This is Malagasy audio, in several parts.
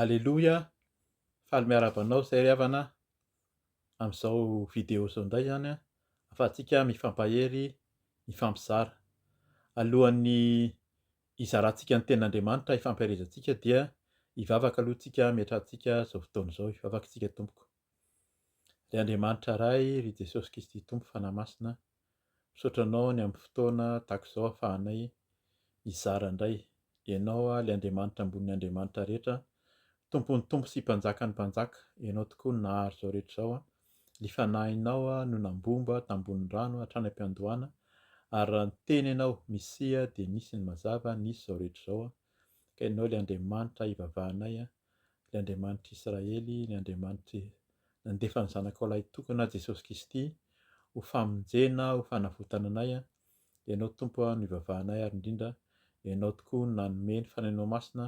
Aleloia, faly miarahaba anao zay ry havana amin'izao vidéo izao indray izany ahafahantsika mifampahery, mifampizara. Alohan'ny hizarantsika ny tenin'Andriamanitra hifampiherezantsika dia hivavaka aloha isika hametrahantsika izao fotoana izao, hivavaka isika tompoko. Ry Andriamanitra Ray, ry Jesosy Kristy Tompo Fanahy Masina, Misaotra anao ny ampy fotoana tahaka izao afahanay mizara indray. Ianao ilay Andriamanitra ambonin'ny Andriamanitra rehetra, Tompon'ny Tompo sy Mpanjakan'ny Mpanjaka, Ianao tokoa no nahary izao rehetra izao. Ny Fanahinao no nambomba tambonin'ny rano hatrany am-piandohana, ary raha niteny Ianao, Misia, dia nisy ny mazava, nisy izao rehetra izao. Ka Ianao ilay Andriamanitra ivavahanay, Ilay Andriamanitr'i Israely, ny Andriamanitry nandefa ny Zanakao Lahitokana, Jesosy Kisty, ho famonjena, ho fanavotana anay. Ianao Tompo no ivavahanay ary indrindra Ianao tokoa no nanome ny Fanahinao Masina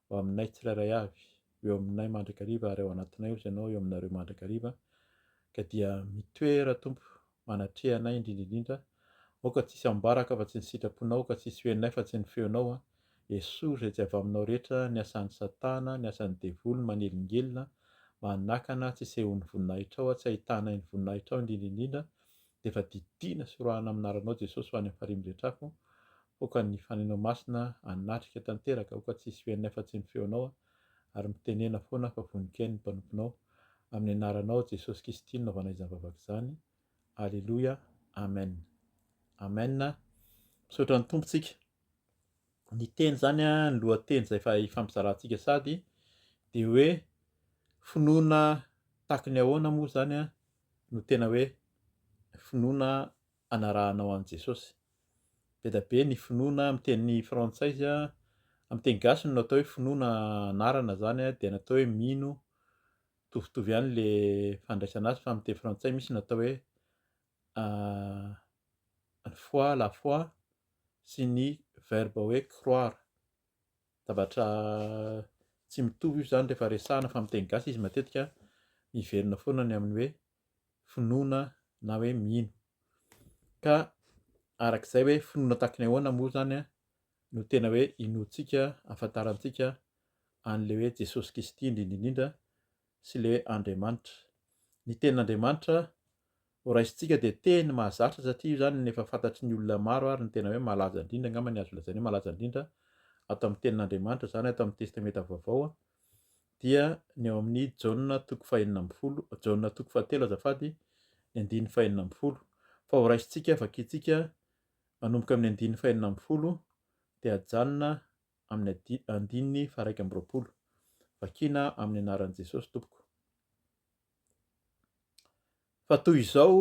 ho aminay tsirairay avy. Ho eo aminay mandrakariva ary ao anatinay osa Ianao eo aminareo mandrakariva ka dia mitoera Tompo manatreha anay indrindra indrindra aoka tsy hisy ambaraka afa tsy ny sitraponao ka tsy hisy ho henonay fa tsy ny feonao an Iesoa izay tsy avy aminao rehetra ny asan'i satana ny asan'ny devoly manelingelina manakana tsy hisehoan'ny voninahitrao an tsy ahitanay ny voninahitrao indrindra indrindra dia efa didiana sy roahina amin'ny anaranao Jesosy ho any amin'ny farihin'ny rehetra afo pokan'ny fanainao masina hanatrika tanteraka aoka tsy hisy ho henonay fa tsy ny feonao an ary mitenena foana fa vonon-kainy ny mpanomponao, amin'ny anaranao Jesosy Kisty no nanaovana izany vavaka izany, Aleloia, Amen. Amen, misaotra ny Tompo tsika. Ny teny zany a, ny lohateny zay efa hifampizarantsika sady de hoe finoana tahaky ny ahoana moa zany a no tena hoe finoana anarahanao an'i Jesosy. Be da be ny finoana amin'ny teny frantsay izy an, amin'ny teny gasy no natao hoe finoana anarana zany an, dia natao hoe mino, mitovitovy ihany le fandraisana azy fa amin'ny teny frantsay misy natao hoe ny foi, la foi, sy ny verbe hoe croire. Zavatra tsy mitovy io zany rehefa resahana fa amin'ny teny gasy izy matetika miverina foana ny amin'ny hoe finoana na hoe mino. Ka araka izay hoe finoana tahaka ny ahoana moa izany no tena hoe inoantsika, ahafantarantsika an'ilay hoe Jesosy Kristy indrindra indrindra sy ilay hoe Andriamanitra. Ny tenin'Andriamanitra horaisintsika dia teny mahazatra satria io izany no efa fantatry ny olona maro ary ny tena hoe malaza indrindra angamba ny azo lazaina hoe malaza indrindra ato amin'ny tenin'Andriamanitra izany ato amin'ny Testamenta Vaovao a. dia ny ao amin'ny Jaona toko fahenina ambin'ny folo, Jaona toko fahatelo azafady, ny andininy fahenina ambin'ny folo. Fa ho raisintsika, vakintsika manomboka amin'ny andininy fahenina ambin'ny folo dia ajanona amin'ny adi- andininy faharaika amby roapolo. Vakina amin'ny anaran'i Jesosy tompoko. Fa toy izao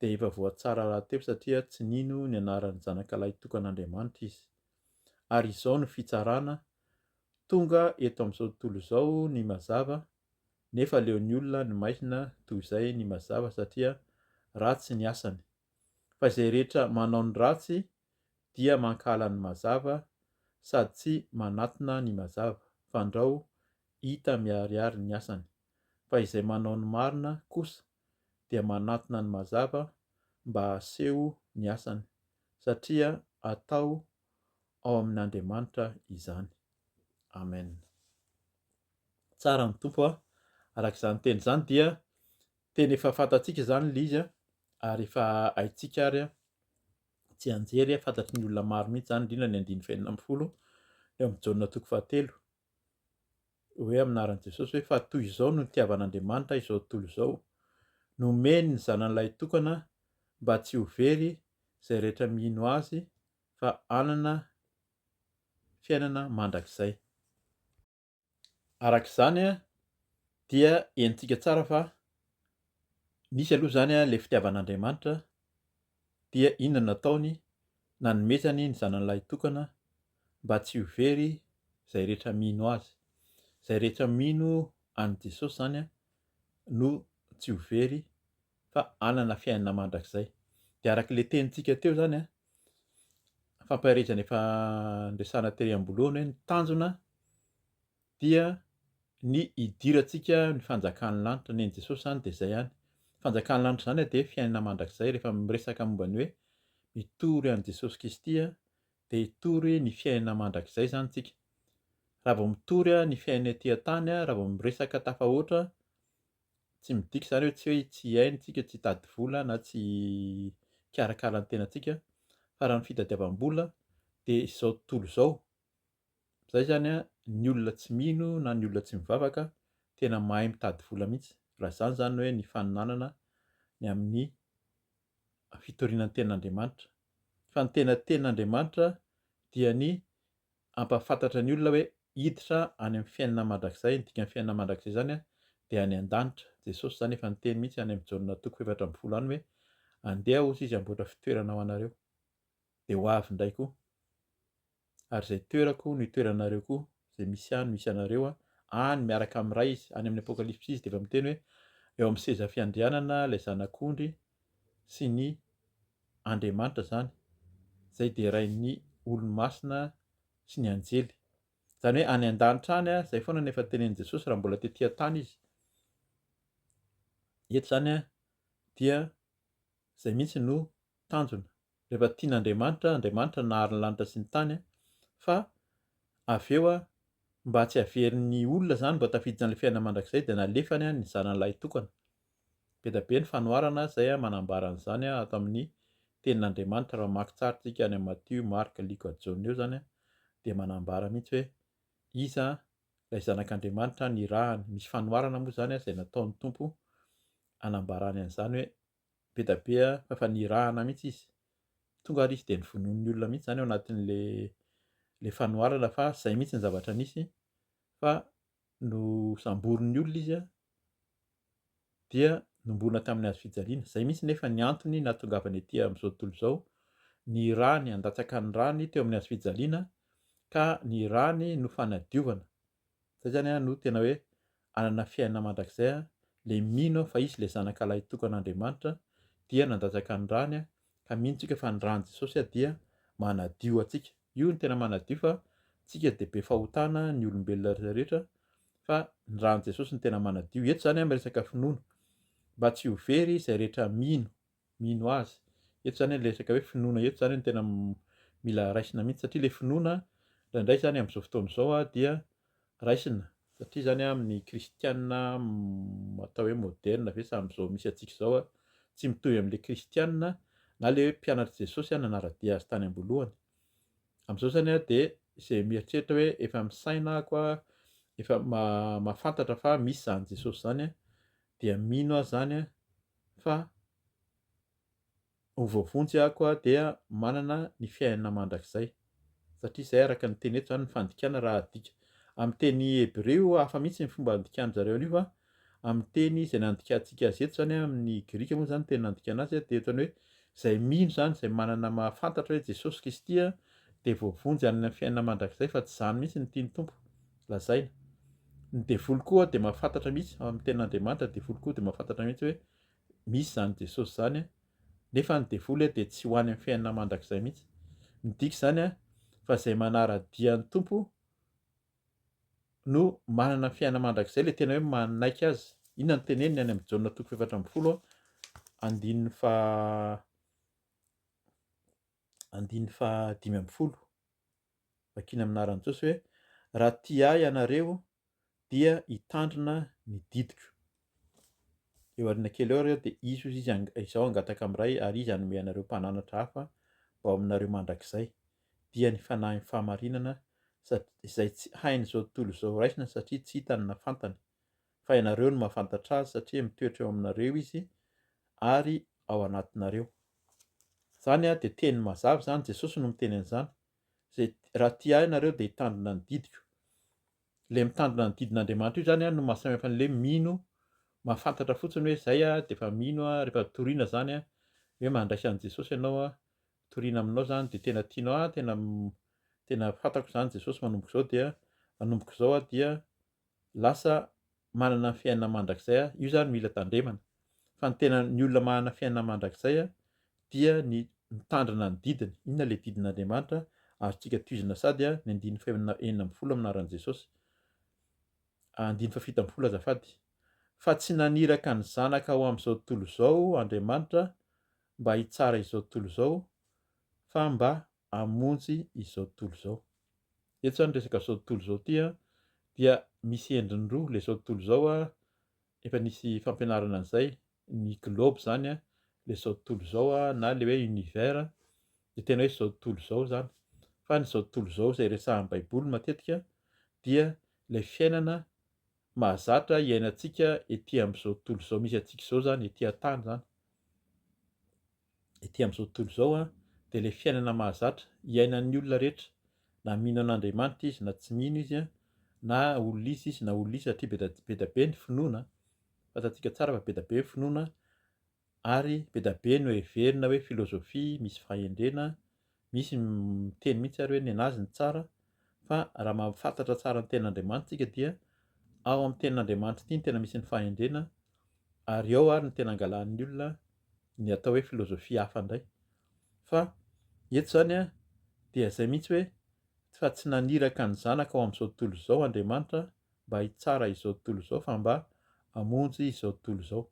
dia efa voatsara rahateo satria tsy nino ny anaran'ny Zanakalahy tokan'Andriamanitra izy. Ary izao no fitsarana, tonga eto amin'izao tontolo izao ny mazava, nefa aleon'ny olona ny maizina toy izay ny mazava satria ratsy ny asany. Fa izay rehetra manao ny ratsy dia mankahala ny mazava sady tsy manatona ny mazava, fandrao hita miharihary ny asany. Fa izay manao ny marina kosa dia manatona ny mazava mba haseho ny asany, satria atao ao amin' Andriamanitra izany. Amen. Tsara ny Tompo a! Araka izany teny izany dia tena efa fantatsika izany ilay izy a! ary efa haintsika ary a! tsianjery a! fantatry ny olona maro mihitsy izany indrindra ny andininy fahenina ambin'ny folo eo amin'ny Jaona toko fahatelo. hoe amin'ny anaran'i Jesosy hoe fa toy izao no nitiavan'Andriamanitra izao tontolo izao, nomeny ny Zanany Lahitokana mba tsy ho very izay rehetra mino Azy fa hanana fiainana mandrakizay. Araka izany dia henontsika tsara fa nisy aloha izany ilay fitiavan'Andriamanitra dia inona nataony nanomezany ny zanany lahitokana mba tsy ho very zay rehetra mino azy zay rehetra mino any jesosy zany no tsy ho very fa anana fiainana mandrakizay dia araka le tenintsika teo zany a fampaherezana efa ndresana tery amboloana hoe ny tanjona dia ny hidirantsika ny fanjakan'ny lanitra, nen'i Jesosy izany dia izay ihany, ny fanjakan'ny lanitra izany dia fiainana mandrakizay, rehefa miresaka momba ny hoe mitory an'i Jesosy Kristy dia hitory ny fiainana mandrakizay izany isika, raha vao mitory ny fiainana ety an-tany, raha vao miresaka tafahoatra, tsy midika izany hoe tsy hoe tsy hihaino isika, tsy hitady vola na tsy hikarakara ny tenantsika fa raha ny fitadiavam-bola dia izao tontolo izao, Zay zany a ny olona tsy mino na ny olona tsy mivavaka tena mahay mitady vola mihitsy raha zany zany hoe ny faninanana ny amin'ny fitoriana ny tenin'Andriamanitra fa ny tena tenin'Andriamanitra dia ny ampahafantatra ny olona hoe hiditra any amin'ny fiainana mandrakizay ny dikan'ny fiainana mandrakizay zany a dia any an-danitra Jesosy zany efa niteny mihitsy any amin'ny Jaona toko efatra ambin'ny folo any hoe andeha ozy izy amboatra fitoerana ho anareo dia ho avy indray koa ary izay toerako no itoeranareo koa, izay misy ahy no misy anareo, any miaraka amin'ny Ray Izy, any amin'ny Apokalypsy Izy dia efa miteny hoe eo amin'ny seza fiandrianana ilay Zanak'ondry sy ny Andriamanitra izany, izay derain'ny olomasina sy ny anjely. Izany hoe any an-danitra any, izay foana no efa tenenin'i Jesosy raha mbola tety an-tany Izy. Eto izany dia izay mihitsy no tanjona, rehefa tian'Andriamanitra, Andriamanitra nahary ny lanitra sy ny tany a, fa avy eo a, mba tsy haverin'ny olona izany mba tafiditra an'ilay fiainana mandrakizay dia nalefany a ny zanany lahitokana. Be dia be ny fanoharana izay manambara an'izany a, ato amin'ny tenin'Andriamanitra, raha mamaky tsara tsika any amin'ny Matio, Marka, Lioka, Jaona eo izany a, dia manambara mihitsy hoe iza ilay zanak'Andriamanitra nirahany, misy fanoharana moa izany a izay nataon'ny Tompo anambarany an'izany hoe be da be fa efa nirahana mihitsy izy tonga ary izy dia nivonoan'ny olona mihitsy izany ao anatin'le le fanoharana fa izay mihitsy ny zavatra nisy fa nosamborin'ny olona izy dia nombona tamin'ny hazo fijaliana izay mihitsy nefa ny antony nahatongavany aty amin'izao tontolo izao ny rany handatsaka ny rany teo amin'ny hazo fijaliana ka ny rany no fanadiovana Zay zany an no tena hoe anana fiainana mandrakizay an, le mino fa izy le zanaka lahy tokan Andriamanitra dia nandatsaka ny rany an, ka mino tsika fa ny rany Jesosy an dia manadio atsika, io no tena manadio fa tsika dia be fahotana ny olombelona rehetra rehetra fa ny rany Jesosy no tena manadio, eto zany an miresaka finoana mba tsy ho very zay rehetra mino mino azy. Eto izany ilay resaka hoe finoana eto izany no tena mila raisina mihitsy satria ilay finoana indraindray izany amin'izao fotoana izao dia raisina satria izany amin'ny kristiana atao hoe moderina ve sa amin'izao misy antsika izao tsy mitovy amin'ilay kristiana na ilay hoe mpianatr'i Jesosy nanara-dia azy tany am-boalohany. Amin'izao izany dia izay mieritreritra hoe efa misaina ako efa mahafantatra fa misy izany Jesosy izany dia mino azy izany Fa ho voavonjy aho koa dia manana ny fiainana mandrakizay. Satria izay araka ny teny eto izany ny fandikana raha adika amin'ny teny hebreo, hafa mihitsy ny fomba andikan-dry zareo an'io fa amin'ny teny izay nandikantsika azy eto izany, amin'ny grika moa izany ny teny nandikana azy dia eto ny hoe izay mino izany, izay manana mahafantatra hoe Jesosy Kristy dia voavonjy hanana ny fiainana mandrakizay fa tsy izany mihitsy no tian'ny Tompo. lazaina. Ny devoly koa dia mahafantatra mihitsy ao amin'ny tenin'Andriamanitra, ny devoly koa dia mahafantatra mihitsy hoe misy izany Jesosy izany, nefa ny devoly dia tsy ho any amin'ny fiainana mandrakizay mihitsy. Midika izany fa izay manara-dia ny Tompo no manana fiainana mandrakizay, ilay tena hoe manaiky azy. Inona no teneniny any amin'ny Jaona toko efatra ambin'ny folo, andininy fa andininy fa dimy ambin'ny folo. Vakina amin'ny anaran'i Jesosy hoe, Raha tia ahy ianareo dia hitandrina ny didiko. Eo aoriana kely eo ireo dia hisy hoy izy, Izaho hangataka amin'ny Ray ary izy hanome anareo mpananatra hafa ho aminareo mandrakizay. Dia ny fanahin'ny fahamarinana izay tsy hain'izao tontolo izao raisina satria tsy hitany na fantany. fa ianareo no mahafantatra azy satria mitoetra eo aminareo izy ary ao anatinareo. Izany a, dia teny mazava izany, Jesosy no miteny an'izany. Izay raha tia ahy ianareo dia hitandrina ny didiko. Ilay mitandrina ny didin'Andriamanitra io izany a no mahasamihafa an'ilay mino mahafantatra fotsiny hoe izay a, dia efa mino a, rehefa toriana izany a, hoe mandraisa an'i Jesosy ianao a, toriana aminao izany dia tena tianao, ah tena tena fantako izany Jesosy manomboka izao dia manomboka izao aho dia lasa manana ny fiainana mandrakizay aho, io zany mila tandremana, fa ny tena ny olona manana fiainana mandrakizay dia ny mitandrina ny didiny, inona le didin'Andriamanitra azontsika tohizina sady ny andininy fahenina enina ambin'ny folo amin'ny anaran'i Jesosy andininy fahafito ambin'ny folo azafady fa tsy naniraka ny zanaka ho amin'izao tontolo izao Andriamanitra mba hitsara izao tontolo izao fa mba hamonjy izao tontolo izao. Eto izany resaka izao tontolo izao ity an, dia misy endriny roa ilay izao tontolo izao an, efa nisy fampianarana an'izay, ny globe izany an, ilay izao tontolo izao an, na ilay hoe univers, dia tena hoe izao tontolo izao izany. Fa ny izao tontolo izao izay resahan'ny Baiboly matetika dia ilay fiainana mahazatra iainantsika ety amin'izao tontolo izao misy antsika izao izany, ety an-tany izany, ety amin'izao tontolo izao an, dia ilay fiainana mahazatra iainan'ny olona rehetra, na mino an'Andriamanitra izy na tsy mino izy an, na olona izy izy na olona izy satria be da be ny finoana, fantatsika tsara fa be da be ny finoana, ary be da be no heverina hoe philosophie misy fahendrena, misy miteny mihitsy ary hoe nenazy ny tsara, fa raha mahafantatra tsara ny tenin'Andriamanitra isika dia ao amin'ny tenin'Andriamanitra ity no tena misy ny fahendrena ary ao ary no tena angalanin'ny olona ny atao hoe philosophie hafa indray fa eto izany a dia izay mihitsy hoe fa tsy naniraka ny zanaka ao amin'izao tontolo izao Andriamanitra mba hitsara izao tontolo izao fa mba hamonjy izao tontolo izao.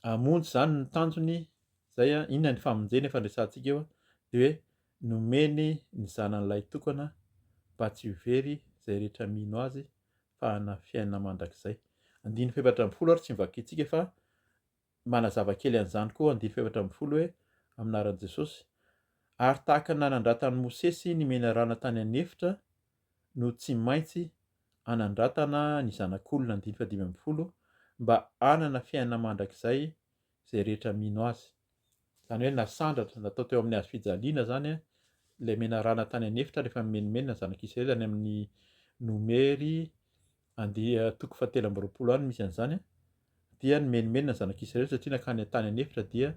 hamonjy izany ny tanjony izay a, inona ny famonjena efa niresahantsika eo a, dia hoe nomeny ny zanany lahy tokana mba tsy ho very izay rehetra mino azy fa hanana fiainana mandrakizay. Andininy fahefatra ambin'ny folo ary tsy novakintsika fa manazava kely an'izany koa andininy fahefatra ambin'ny folo hoe amin'aran'i Jesosy ary tahaka ny nanandratan'i Mosesy ny menarana tany an'efitra no tsy maintsy hanandratana ny zanak'olona andininy fahadimy ambin'ny folo mba hanana fiainana mandrakizay izay rehetra mino azy. Izany hoe nasandratra, natao teo amin'ny hazofijaliana izany ilay menarana tany an'efitra rehefa nimenomenona ny zanak'Israely any amin'ny nomery And. Toko fahatelo amby roapolo any no misy an'izany an, dia nimenomenona ny zanak'Israely satria nankany an-tany an'efitra dia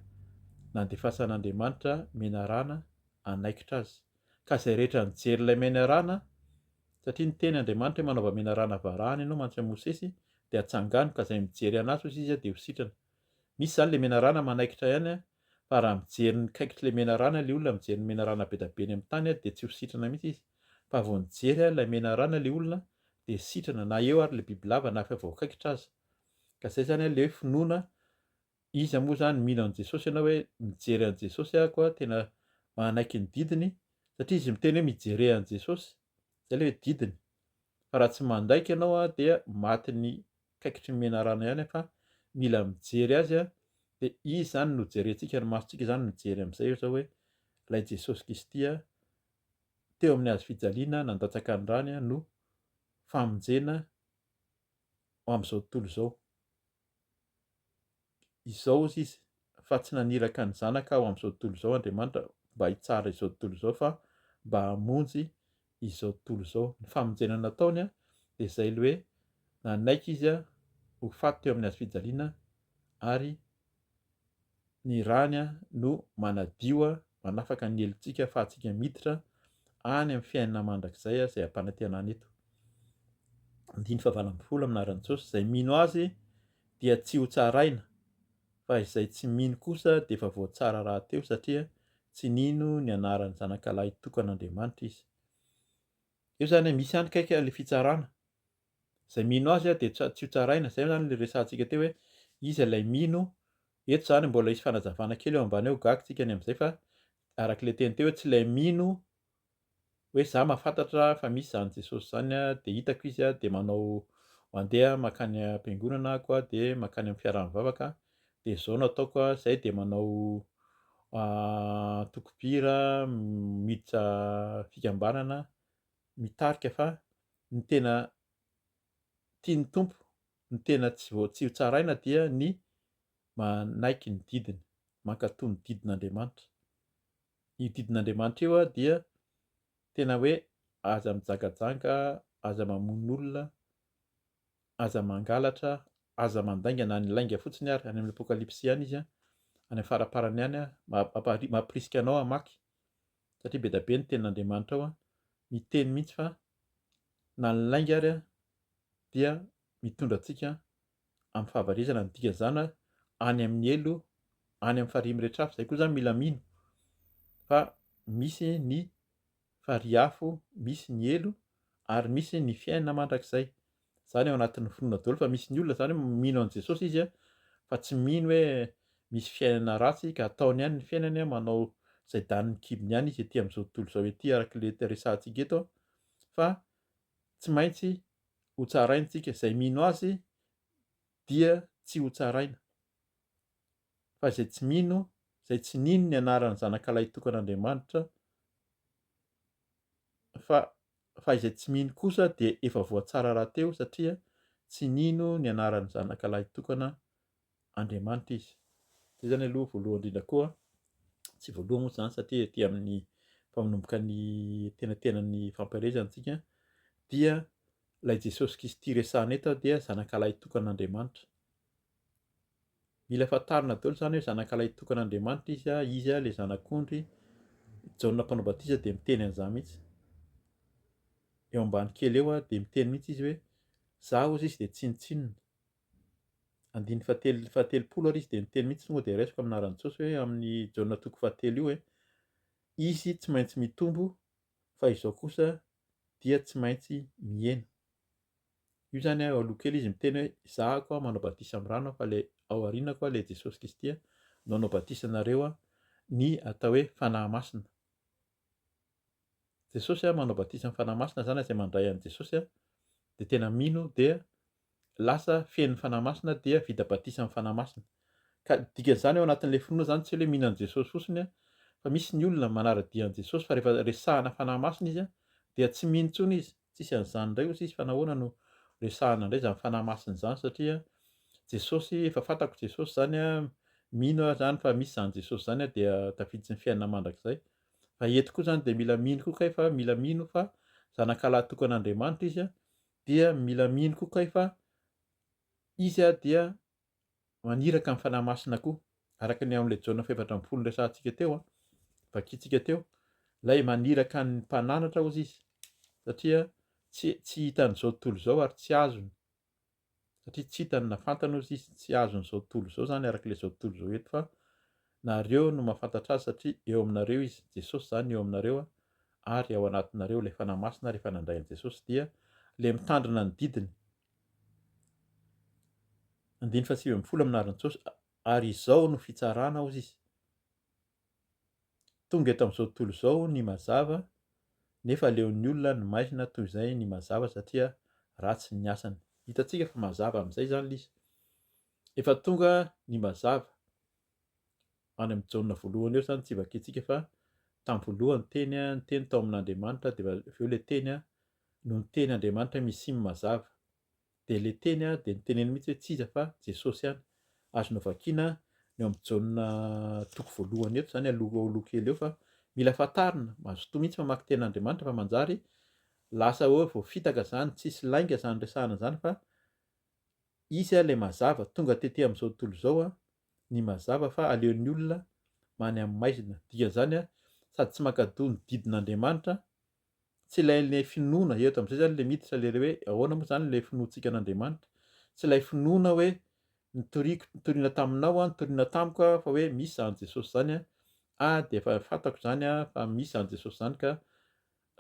nandefasan'Andriamanitra menarana hanaikitra azy, ka izay rehetra nijery ilay menarana, satria niteny Andriamanitra hoe manaova menarana varahana ianao mantsy an'i Mosesy dia hatsangano, ka izay mijery an'azy hozy izy dia ho sitrana. Misy izany ilay menarana manaikitra ihany an, fa raha mijery ny kaikitr'ilay menarana ilay olona mijery ny menarana bedabeny amin'ny tany dia tsy ho sitrana mihitsy izy. fa vao nijery aho ilay menarana le olona dia sitrana na eo ary le bibilava na efa voakaikitra aza ka zay zany le hoe finoana iza moa zany mino an'i Jesosy ianao hoe mijery an'i Jesosy aho koa tena manaiky ny didiny satria izy miteny hoe mijerea an'i Jesosy zay le hoe didiny fa raha tsy mandaiky ianao a dia matin'ny kaikitry ny menarana ihany fa mila mijery azy a dia izy zany no jerentsika ny masontsika zany mijery am'izay eo zao hoe ilay Jesosy Kristy a teo amin'ny hazo fijaliana nandatsaka ny rany no famonjena ho amin'izao tontolo izao. Izao hozy izy, fa tsy naniraka ny zanaka ho amin'izao tontolo izao Andriamanitra mba hitsara izao tontolo izao fa mba hamonjy izao tontolo izao. Ny famonjena nataony dia izay ilay hoe nanaiky izy ho faty teo amin'ny hazo fijaliana ary ny rany no manadio a, manafaka ny helotsika afahantsika miditra any amin'ny fiainana mandrakizay izay ampanantenana eto. Andininy fahavalo ambin'ny folo amin'ny anaran'i Jesosy, izay mino azy dia tsy ho tsaraina, fa izay tsy mino kosa dia efa voatsara rahateo satria tsy nino ny anaran'ny zanakalahy tokan'Andriamanitra izy. Eo izany misy ihany kaika ilay fitsarana, izay mino azy dia tsy ho tsaraina, izay izany ilay resahantsika teo hoe iza ilay mino, eto izany mbola hisy fanazavana kely eo ambany eo gaga tsika ny amin'izay fa araka ilay teny teo hoe tsy ilay mino hoe za mahafantatra fa misy izany Jesosy izany dia hitako izy dia manao mandeha makany am-piangonana ako dia makany amin'ny fiaraha-mivavaka dia izao no ataoko izay dia manao ah, tokopira miditra fikambanana mitarika fa ny tena tian'ny Tompo, ny tena tsy vao tsy hotsaraina dia ny manaiky ny didiny, mankatò ny didin'Andriamanitra. Io didin'Andriamanitra io dia tena hoe aza mijangajanga, aza mamono olona, aza mangalatra, aza mandainga na ny lainga fotsiny ary any amin'ny apokalypsy ihany izy any faraparany any mampirisika anao hamaky satria bedabe ny tenin'Andriamanitra ao, miteny mihitsy fa na ny lainga ary dia mitondra antsika amin'ny fahavarezana, ny dikan'izany any amin'ny helo, any amin'ny farihy mirehitra afo, izay koa izany mila mino fa misy ny farihy afo, misy ny helo ary misy ny fiainana mandrakizay. zany ao anatin'ny finoana daholo fa misy ny olona zany mino an'i Jesosy izy a fa tsy mino hoe misy fiainana ratsy ka ataony ihany ny fiainany a manao izay danin'ny kibony ihany izy ety amin'izao tontolo izao ety araka ilay resahantsika eto fa tsy maintsy hotsaraintsika izay mino azy dia tsy hotsaraina fa izay tsy mino, izay tsy nino ny anaran'ny Zanakalahintokan'Andriamanitra, fa fa izay tsy mino kosa dia efa voatsara rahateo satria tsy nino ny anaran'ny Zanakalahintokan'Andriamanitra izy. Izay zany aloha voalohany indrindra koa, tsy voalohany moa zany satria ety amin'ny mpanomboka ny tenatenan'ny fampielezana antsika dia ilay Jesosy Kristy resahana eto dia zanakalahintokan'Andriamanitra. Mila fantarina daholo izany hoe zanakalahy tokan' Andriamanitra izy a, izy a le zanak'ondry, Jaona mpanao batisa dia miteny an'izany mihitsy, eo ambany kely eo a dia miteny mihitsy izy hoe za ozy izy dia tsinontsinona, andininy fahatelo fahatelopolo ary izy dia miteny mihitsy tonga dia raisiko amin'ny anaran'i Jesosy hoe amin'ny Jaona toko fahatelo io hoe izy tsy maintsy mitombo fa izao kosa dia tsy maintsy mihena. Io zany a aloha kely izy miteny hoe za ako a manao batisa am rano a fa le ao aoriana koa le Jesosy Kristy a no hanao batisa anareo a ny atao hoe Fanahy Masina. Jesosy a manao batisa am Fanahy Masina zany a zay mandray an'i Jesosy a de tena mino dia lasa feno Fanahy Masina dia vita batisa am Fanahy Masina. Ka dikan'izany ao anatin'le finoana zany tsy hoe mino an'i Jesosy fotsiny a fa misy ny olona manara-dia an'i Jesosy fa rehefa resahana Fanahy Masina izy a dia tsy mino intsony izy Tsisy an'izany indray ozy izy fa nahoana no resahana indray izany fanahy masina izany satria Jesosy efa fantako Jesosy izany a mino aho izany fa misy izany Jesosy izany a dia tafiditsy ny fiainana mandrakizay fa eto koa izany dia mila mino koa kay fa mila mino fa zanakalahy tokan'Andriamanitra izy a dia mila mino koa kay fa izy a dia maniraka ny Fanahy Masina koa, araka ny ao amin'ilay Jaona fahefatra ambin'ny folo niresahantsika teo, vakintsika teo, ilay maniraka ny mpananatra ozy izy, satria tsy tsy hitan'izao tontolo izao ary tsy azony, satria tsy hitany na fantany ozy izy, tsy azon'izao tontolo izao izany araka ilay izao tontolo izao eto fa nareo no mahafantatra azy satria eo aminareo izy, Jesosy izany eo aminareo ary ao anatinareo ilay Fanahy Masina rehefa nandray an'i Jesosy dia ilay mitandrina ny didiny Andininy fahasivy ambin'ny folo amin'ny anaran'i Jesosy, ary izao no fitsarana, hozy izy. Tonga eto amin'izao tontolo izao ny mazava, nefa aleon'ny olona ny maizina toy izay ny mazava satria ratsy ny asany. Hitantsika fa mazava amin'izay izany ilay izy. Efa tonga ny mazava. Any amin'ny Jaona voalohany eo izany tsy vakintsika fa tamin'ny voalohany teny, ny teny tao amin'Andriamanitra, dia avy eo ilay teny no ny teny Andriamanitra misim mazava dia le teny a dia niteneniny mihitsy hoe tsy iza fa Jesosy ihany, azo novakiana ny ao amin'ny Jaona toko voalohany eto izany aloha aloha kely eo fa mila fantarina, mazotoa mihitsy mamaky teny Andriamanitra fa manjary lasa hoe voafitaka izany, tsisy lainga izany resahana izany fa izy a le mazava, tonga tety amin'izao tontolo izao a ny mazava fa aleon'ny olona many amin'ny maizina, dikan'izany a sady tsy mankadoa ny didin'Andriamanitra tsy ilay ilay finoana eto amin'izay zany le miditra le hoe ahoana moa zany le finoantsika an'Andriamanitra tsy ilay finoana hoe nitoriako nitoriana taminao a nitoriana tamiko a fa hoe misy zany Jesosy zany a a de efa fantako zany a fa misy zany Jesosy zany ka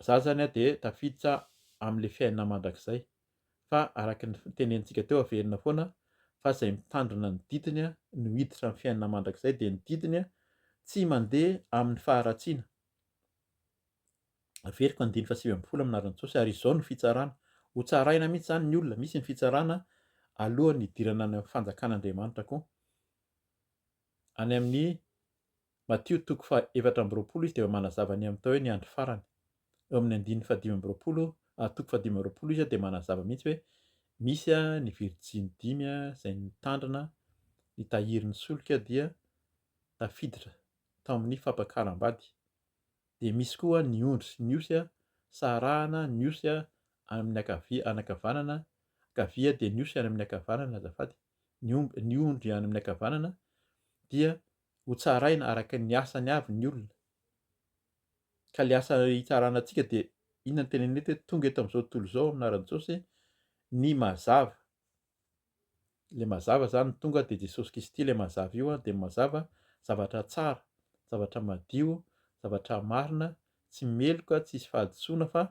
za zany a de tafiditra amin'le fiainana mandrakizay fa araka ny tenenintsika teo averina foana fa zay mitandrina ny didiny a no hiditra amin'ny fiainana mandrakizay de ny didiny a tsy mandeha amin'ny faharatsiana Averiko andiny faha sivy ambin'ny folo amina rantsosy ary izao no fitsarana. Ho tsaraina mihitsy izany ny olona, misy ny fitsarana alohan'ny hidirana any amin'ny fanjakan'Andriamanitra koa. Any amin'ny Matio toko faha efatra amby roapolo izy dia manazava ny amin'ny atao hoe ny andro farany. Eo amin'ny andininy faha dimy amby roapolo, ah, toko faha dimy amby roapolo izy dia manazava mihitsy hoe misy ah, ny virjiny dimy ah, izay nitandrina ny tahirin'ny solika dia tafiditra tao amin'ny fampakaram-bady. dia misy koa ny ondry, ny osy, sarahana ny osy amin'ny ankavia, any ankavanana, ankavia dia ny osy any amin'ny ankavanana azafady, ny omby, ny ondry any amin'ny ankavanana dia ho tsaraina araka ny asany avy ny olona, ka ilay asa hitsarana antsika dia inona no tenenina eto hoe tonga eto amin'izao tontolo izao amin'ny anaran'i Jesosy ny mazava, le mazava zany tonga de Jesosy Kisty le mazava io an de mazava zavatra tsara zavatra madio zavatra marina tsy meloka tsisy fahadisoana fa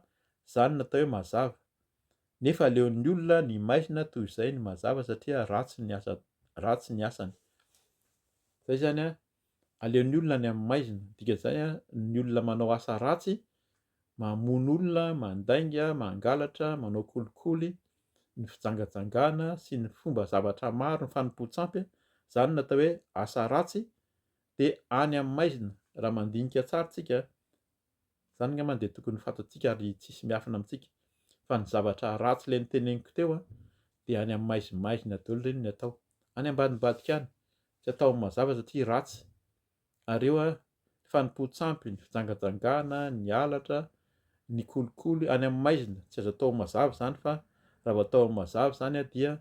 zany no atao hoe mazava nefa aleon'ny olona ny maizina toy izay ny mazava satria ratsy ny asa ratsy ny asany zay zany an Aleon'ny olona any amin'ny maizina. Ny dikan'izay an, ny olona manao asa ratsy, mamono olona, mandainga, mangalatra, manao kolikoly, ny fijangajangana sy ny fomba zavatra maro, ny fanompoan-tsampy, izany no atao hoe asa ratsy, dia any amin'ny maizina. Raha mandinika tsara isika, Zany ngambany dia tokony fatantsika ary tsisy miafina amintsika fa ny zavatra ratsy le niteneniko teo a dia any am maizimaizina daolo reny ny atao any ambadimbadika any tsy atao mazava satria ratsy ary eo a ny fanompoantsampy ny fijangajangana ny halatra ny kolikoly any am maizina tsy azo atao mazava zany fa raha vao atao mazava zany a dia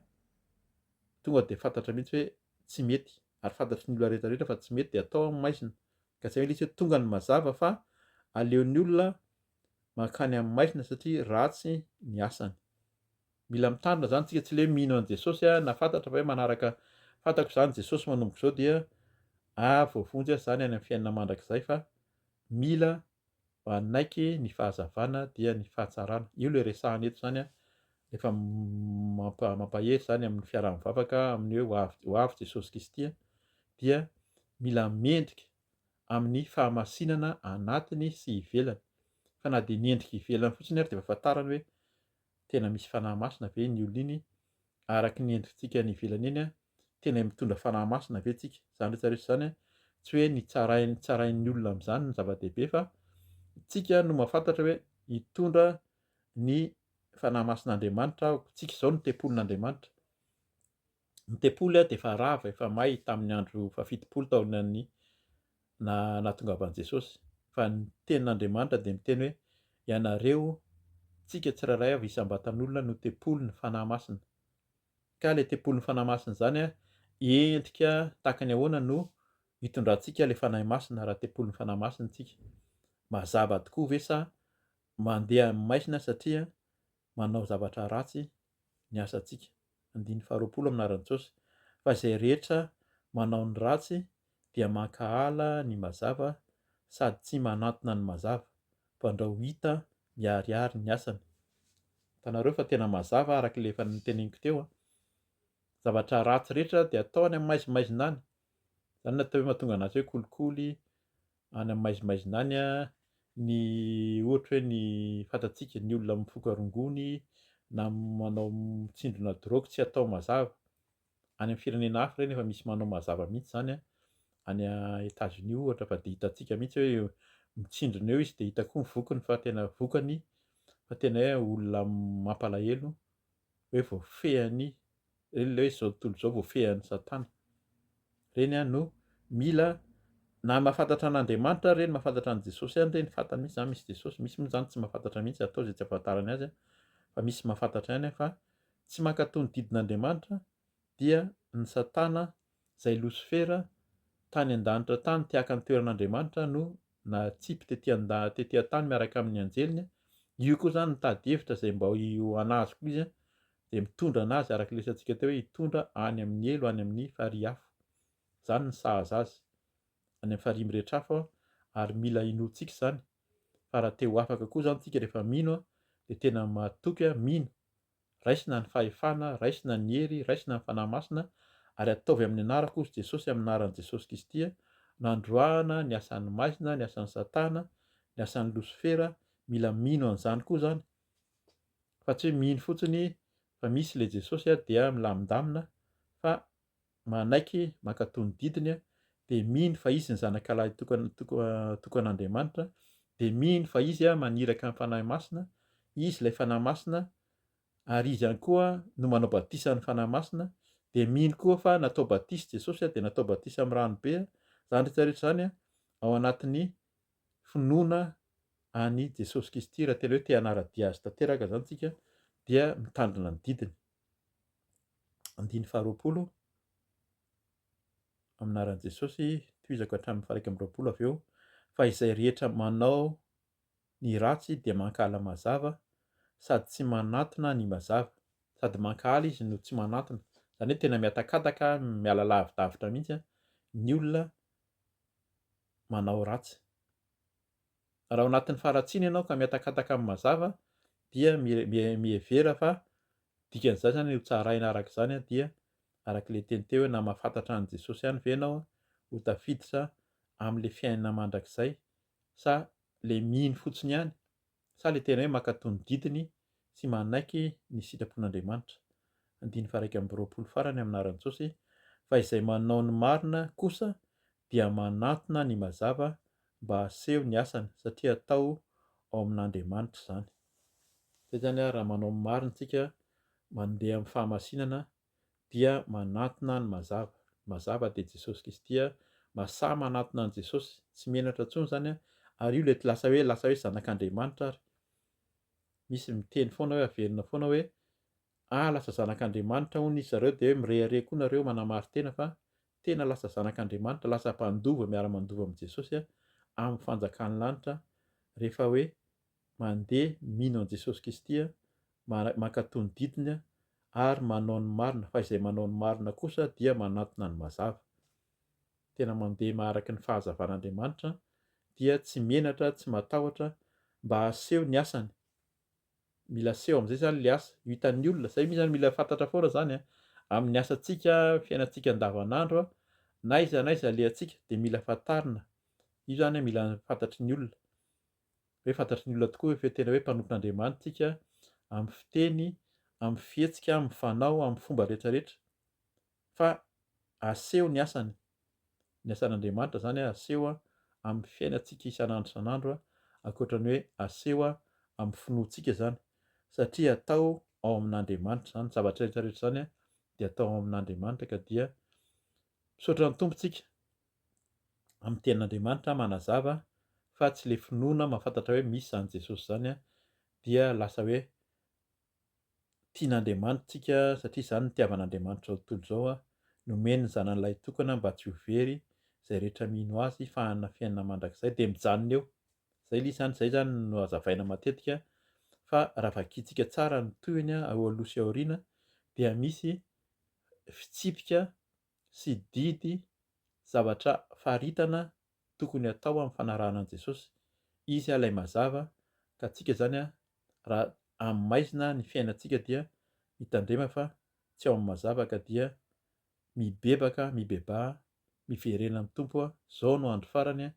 tonga dia fantatra mihitsy hoe tsy mety ary fantatry ny olona rehetra rehetra fa tsy mety dia atao am maizina Ka tsy mety hoe tonga ny mazava fa aleon'ny olona mankany amin'ny maizina satria ratsy ny asany. Mila mitandrina izany tsika tsy le hoe mino an'i Jesosy aho na fantatra fa hoe manaraka fantako izany Jesosy manomboka izao dia ah voavonjy aho izany any amin'ny fiainana mandrakizay fa mila manaiky ny fahazavana dia ny fahatsarana. Io ilay resahana eto izany an, efa mampahery izany amin'ny fiaraha-mivavaka amin'ny hoe ho avy, ho avy Jesosy Kristy an, dia mila mendrika amin'ny fahamasinana anatiny sy ivelany. Fa na dia ny endrika ivelany fotsiny ary dia efa fantarany hoe tena misy fanahy masina ve iny olona iny araky ny endritsika any ivelany eny an, tena mitondra fanahy masina ve tsika, zany rehetra rehetra zany an, tsy hoe ny tsarainy tsarain'ny olona amzany no zava-dehibe fa tsika no mahafantatra hoe hitondra ny fanahy masin'Andriamanitra aho, tsika izao no tempolin'Andriamanitra, ny tempoly dia efa rava, efa may tamin'ny andro fahafitopolo taonan'ny na nahatongavan'i Jesosy, fa ny Tenin'Andriamanitra dia miteny hoe, Ianareo, tsika tsirairay avy isam-batan'olona no tempolin'ny Fanahy Masina. Ka ilay tempolin'ny Fanahy Masina izany endrika tahaka ny ahoana no itondrantsika ilay Fanahy Masina raha tempolin'ny Fanahy Masina isika? Mazava tokoa ve sa mandeha amin'ny maizina satria manao zavatra ratsy ny asantsika, andininy faharoapolo amin'ny anaran'i Jesosy, fa izay rehetra manao ny ratsy dia mankahala ny mazava sady tsy manantona ny mazava, fandrao ho hita miharihary ny asany. Hitanareo fa tena mazava araka ilay efa noteneniko teo an. Zavatra ratsy rehetra dia atao any amaizimaizina any. Izany no atao hoe mahatonga an'azy hoe kolikoly, any amin'ny maizimaizina any a, ny ohatra hoe ny fantatsika ny olona mifoka rongony na manao mitsindrona drogue tsy atao mazava, any amin'ny firenena hafa ireny efa misy manao mazava mihitsy izany a, any a Etats Unis ohatra fa dia hitantsika mihitsy hoe eo mitsindrona eo izy dia hita koa ny vokiny fa tena vokany fa tena hoe olona mampalahelo hoe voafehan'i ireny ilay hoe izao tontolo izao voafehan'i Satana. Ireny ihany no mila na mahafantatra an'Andriamanitra ireny, mahafantatra an'i Jesosy ihany ireny, fantany mihitsy izany misy Jesosy, misy moa izany tsy mahafantatra mihitsy, atao izay tsy ahafantarany azy fa misy mahafantatra ihany fa tsy mankatò ny didin'Andriamanitra dia ny Satana izay Losifera tany an-danitra tany te haka ny toeran'Andriamanitra no nahatsipy tety an-daha tety an-tany miaraka amin'ny anjeliny, io koa izany mitady hevitra izay mba ho an'azy koa izy dia mitondra an'azy araka ilay resatsika teo hoe hitondra any amin'ny helo any amin'ny farihy afo. Izany ny sahaza azy any amin'ny farihy mirehitra afo ary mila inoantsika izany fa raha te ho afaka koa izany isika rehefa mino dia tena matoky mino Raisina ny fahefana, raisina ny hery, raisina ny Fanahy Masina, ary ataovy amin'ny anarako, hozy Jesosy, amin'ny anaran'i Jesosy Kristy, nandroahana ny asan'ny maizina, ny asan'i Satana, ny asan'i Losifera, mila mino an'izany koa izany, fa tsy hoe mino fotsiny fa misy ilay Jesosy dia milamindamina, fa manaiky mankatò ny didiny, dia mino fa izy ny Zanakalahy tokan'Andriamanitra, dia mino fa izy maniraka ny Fanahy Masina, izy ilay Fanahy Masina, ary izy ihany koa no manao batisa amin'ny Fanahy Masina, dia mino koa fa natao batisa Jesosy, dia natao batisa amin'ny ranobe, izany rehetra rehetra izany ao anatin'ny finoana an'i Jesosy Kristy, raha tena hoe te hanara-dia azy tanteraka izany isika, dia mitandrina ny didiny. Andininy faharoapolo, Amin'ny anaran'i Jesosy, tohizako hatramin'ny faha-iraika amby roapolo avy eo, fa izay rehetra manao ny ratsy dia mankahala mazava sady tsy manatona ny mazava, sady mankahala izy no tsy manatona, izany hoe tena mihatakataka, miala lavidavitra mihitsy ny olona manao ratsy. Raha ao anatin'ny faharatsiana ianao ka mihatakataka amin'ny mazava dia mihevera fa dikan'izay izany ho tsaraina araka izany dia araka ilay teny teo hoe na mahafantatra an'i Jesosy ihany ve ianao ho tafiditra amin'ilay fiainana mandrakizay sa ilay mino fotsiny ihany sa ilay tena hoe mankatò ny didiny tsy manaiky ny sitrapon'Andriamanitra, andininy faha-iraika amby roapolo farany amin'ny anaran'i Jesosy, fa izay manao ny marina kosa dia manantona ny mazava mba haseho ny asany satria atao ao amin'Andriamanitra izany. Izay izany raha manao ny marina isika mandeha amin'ny fahamasinana dia manatona ny mazava, ny mazava dia Jesosy Kristy a, masaha manatona an'i Jesosy, tsy menatra intsony izany a, ary io lety lasa hoe lasa hoe zanak'Andriamanitra ary, misy miteny foana hoe averina foana hoe ah lasa zanak'Andriamanitra hono izy zareo dia hoe mirehareha koa nareo manamari-tena fa tena lasa zanak'Andriamanitra, lasa mpandova miara-mandova amin'i Jesosy a, amin'ny fanjakan'ny lanitra rehefa hoe Mandeha, mino an'i Jesosy Kisty, mankatò ny didiny ary manao ny marina fa izay manao ny marina kosa dia manantona ny mazava. Tena mandeha araka ny fahazavan'Andriamanitra dia tsy menatra, tsy matahotra mba haseho ny asany. Mila seho amin'izay izany ilay asa, io hitan'ny olona. Izay mizany mila fantatra foana izany an! Amin'ny asantsika, fiainantsika andavanandro, na aiza na aiza alehantsika dia mila fantarina. Io izany mila fantatry ny olona. hoe fantatry ny olona tokoa ve fa tena hoe mpanompon'Andriamanitra isika amin'ny fiteny, amin'ny fihetsika, amin'ny fanao, amin'ny fomba rehetra rehetra? Fa aseho ny asany, ny asan'Andriamanitra izany aseho amin'ny fiainantsika isan'andro isan'andro ankoatra ny hoe aseho amin'ny finoantsika izany satria atao ao amin'Andriamanitra izany zavatra rehetra rehetra izany dia atao ao amin'Andriamanitra ka dia misaotra ny Tompo tsika amin'ny tenin'Andriamanitra manazava fa tsy ilay finoana mahafantatra hoe misy izany Jesosy izany dia lasa hoe tian'Andriamanitra tsika satria izany no itiavan'Andriamanitra izao tontolo izao an, nomeny ny zanany lahitokana mba tsy ho very izay rehetra mino azy fa hanana fiainana mandrakizay dia mijanona eo, izay ilay izy izany, izay izany no hazavaina matetika fa raha vakintsika tsara ny tohiny an, eo aloha sy aoriana dia misy fitsipika sy didy zavatra faritana tokony atao amin'ny fanarahana an'i Jesosy. Izy ilay mazava ka antsika izany raha amin'ny maizina ny fiainantsika dia mitandrema fa tsy ao amin'ny mazava ka dia mibebaka mibebaha miverena amin'ny Tompo zao no andro farany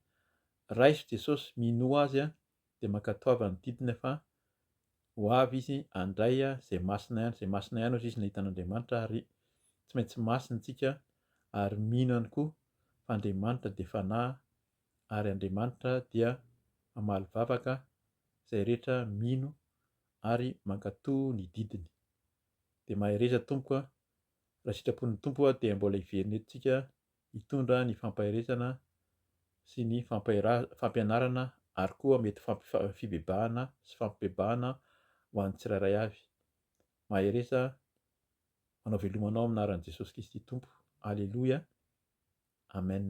raiso Jesosy minoa azy dia mankatoava ny didiny fa ho avy izy handray izay masina ihany, izay masina ihany hozy izy nahita an'Andriamanitra ary tsy maintsy masina isika ary mino ihany koa fa Andriamanitra dia fanahy ary Andriamanitra dia mamaly vavaka izay rehetra mino ary mankato ny didiny. Dia mahereza Tompo a! Raha sitrapon'ny Tompo dia mbola hiverina eto tsika hitondra ny fampaherezana sy ny fampianarana ary koa mety ho fibebahana sy fampibebahana ho an'ny tsirairay avy. Mahereza manao veloma anao amin'ny anaran'i Jesosy Kristy Tompo. Aleloia. Amen.